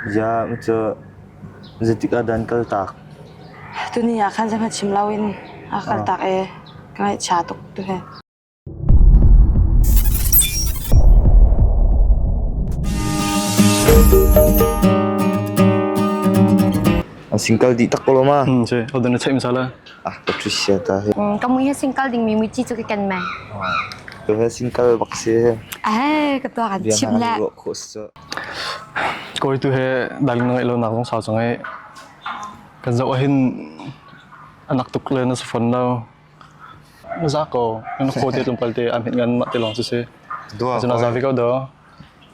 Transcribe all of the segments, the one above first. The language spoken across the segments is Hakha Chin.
Ziang cu zeitik ah dah kal taak? Tuni ah khan zeihmanh chim loin a ka kal taak i ka ngaihchia tuk tu hi. An singkal dih tak ko lo ma? Hmm, si. Hau dan na ceih misal lah. Ah, Patricia ta hi. Kamu hi singkal ding mi muci cu ka ken mai. Tu he singkal bak si. Eh, ketua kan chim le. Biang ha ni ruak khos cu. Kawi tu he daling na ngeih lonak zong sau cu ngeih. Kan zoh ahhin anak tuk le na si fawn lo. Na za ko, na khaw te tlungpal te an hit ngan mah te lawng si si. Dua Cun a zavi ko do.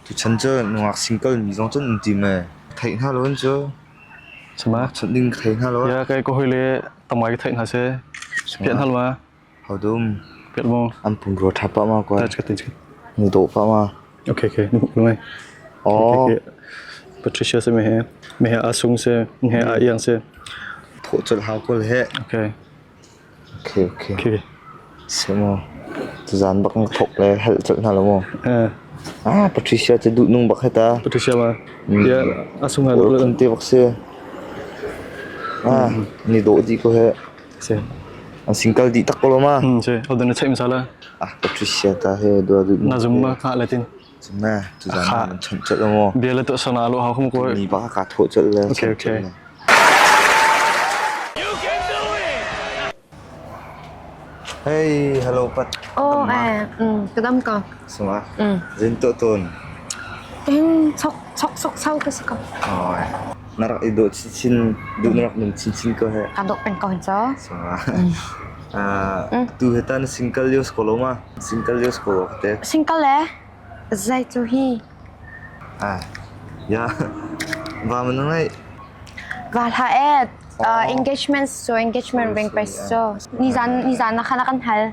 Tu chan cu nungak single mi zong cun um ti me. Thai hna lo cu. Sama. Chun ding thai hna lo. Ya kai ko hoi le tamai ka thai hna se. Pian hal ma. Hau dum. Pek maw? An pumrua ṭha pah ma kuan. Cakap tin cakap. Nu dawh pah ma. Okay okay. Nu pumrua mai. Oh. Patricia se me he. Me he asung se. He a iang se. Pho chul hau kul he. Okay. Okay okay. Okay. Se mo. Tu zan bak nak thok le hel chul na lo mo. Eh. Ah Patricia te du nung bak heta. Patricia ma. Ya asung ha. Ul te bak se. Ah ni dawh di ko he. An sing kal dih tak ko lo ma. Hmm, si. Ho dan na check masala. Ah, ka thri sia ta he dua du. Na zum ma kha latin. Zum na, tu zan man cham chat lo mo. Bia la tu sana lo ha khum ko. Ni ba ka tho chat le. Okay, okay. Hey, hello Pat. Oh, eh, mm, kadam ka. Suma. Mm. Zin to tun. Em, sok sok sok sau kasi ka. Oh, Na rak i dawh chinchin, duh na rak nung chinchin ko heh. Kan dawh peng ko hin co. Tu he ta na single yos ko lo ma? Single yos ko lo ka te. Single le zei cu hi Ya, va man ngai. va hla et engagement so engagement ring pe so nizan nizan na khana kan hal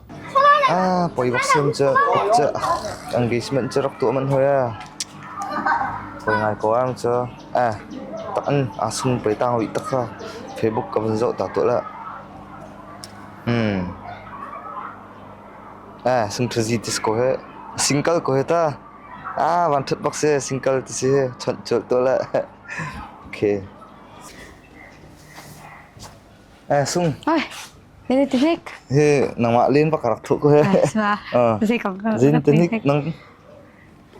Poi bak siam cu engagement cu rak tuah manh hoi ee. Poi ngai ko am cu. Tak in aa sum poi tang ui tak kha Facebook ka van zoh ta tuah la. Singthazi tis ko he. Single ko he ta. Van thut bak si single ti si chawnh tuah la. Okay. Hoi, ini tinik. Hi, nangmah lin pak rak thuk ko he. Sima, zai kong ka. Zin tinik nang.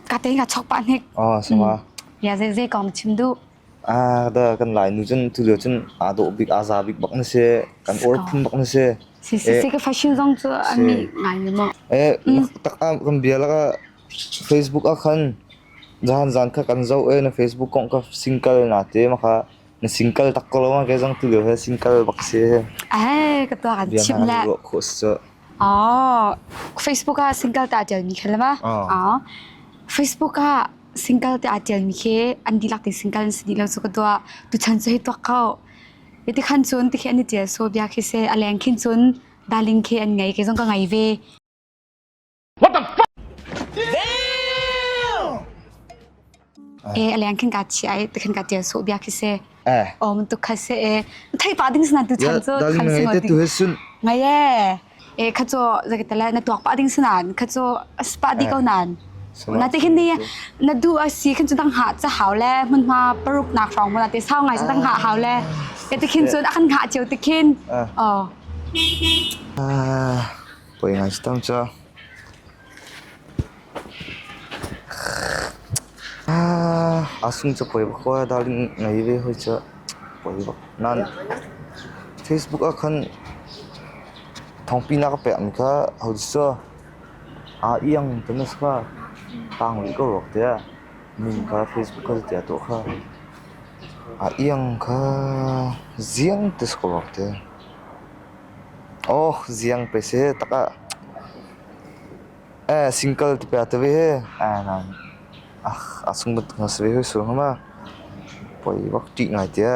Kate nga chok pa nik. Oh, sima. Ya zai zai kong chim du. Ah, da kan lai nu chen tu leo chen ado bik aza bik bak na se kan or phun bak na se. Si si si ka fashion zong chu ami ngai mo. Eh, tak am kan bia la ka Facebook akan jahan zan kha kan zau eh na Facebook kong ka single na te maka Na sin kal tak ko lawng ah kei zong tulio hi sin kal bak si. Ai, ka tuak an Bia chim na le. an ruah khawh si cu. Oh, Facebook ah single ta tialmi khi lama. Ah. Oh. Facebook ah single te aa tialmi khi an dilak ti single an si dih lo cu ka tuah. Tu chan cu hi tuak ko. Iti khan cun ti khi an i tial so bia khi se a leng khin cun darling khi an ngei ke zong ka ngei ve. What the fuck? Eh aliang khin ka chi ai te khin ka tia so bia khi se eh o mun tu kha se eh thai pa ding sna tu chan chu kham se te tu hesun ngai e eh kha cho zakatala na tuak pa ding snan kha cho spa di ko nan na te khin ni na du a si khin chu dang ha cha hau le mun ma paruk nak rong mun te sau ngai dang ha hau le te khin chun akhan ha cheu te khin o ah Poi ngan si cang cu. A sung cu poi khua darling ngei ve hoi cu. Poi bak. Nan Facebook ah khan thongpi nak a pekmi kha hau su. Aa iang te na sa. Tang rih ko rok te. Min kha Facebook kha tiah tu kha. A iang kha ziang te sa ko rok te. Aw ziang pe seh takah ee single ti pe te ve he a sung bantuk na si ve hoi sung ma poi bak ṭih ngai tia.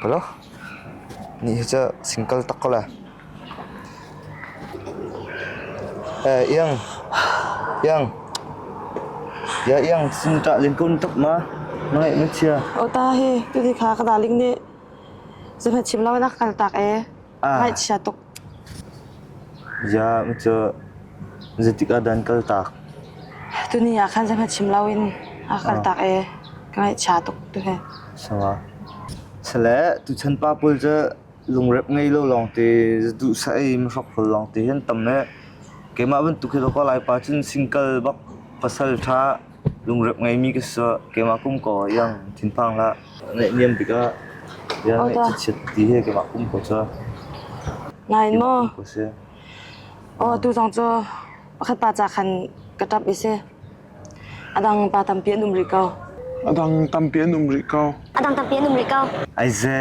Palaw nih hi cu single tak ko la. Ee iang iang ya iang sung ṭah ling kun tuk ma na ngaih na chia. O ta hi tuti kha ka daling nih. Cuhmanh chim loin a ka kaltak i ngaihchia tuk. Ziah cu zeitikah dan kaltak? Tuni ah khan zeihmanh chim loin a ka kaltak i ka ngaihchia tuk tuhi. Sangah. Sale, tuchan pa pawl cu lungrep ngei lo lawngte, duhsah i mihrok pawl lawngte hi an tam i keimah bantuk hi ka Laipa cun singkal bak pasal ṭha Lungrep ngeimi ka sawh. Keimah kum kaw iang thinphang hlah. Naihniam tikah bia ngaih chiat ti he keimah kum kaw cu. Nain maw? Aw, tuzong cu pakhat pa ca khan ka ṭap i si. A dang pa tampi an um rih ko. A dang tampi an um rih ko. A dang tampi an um rih ko. Ai ze.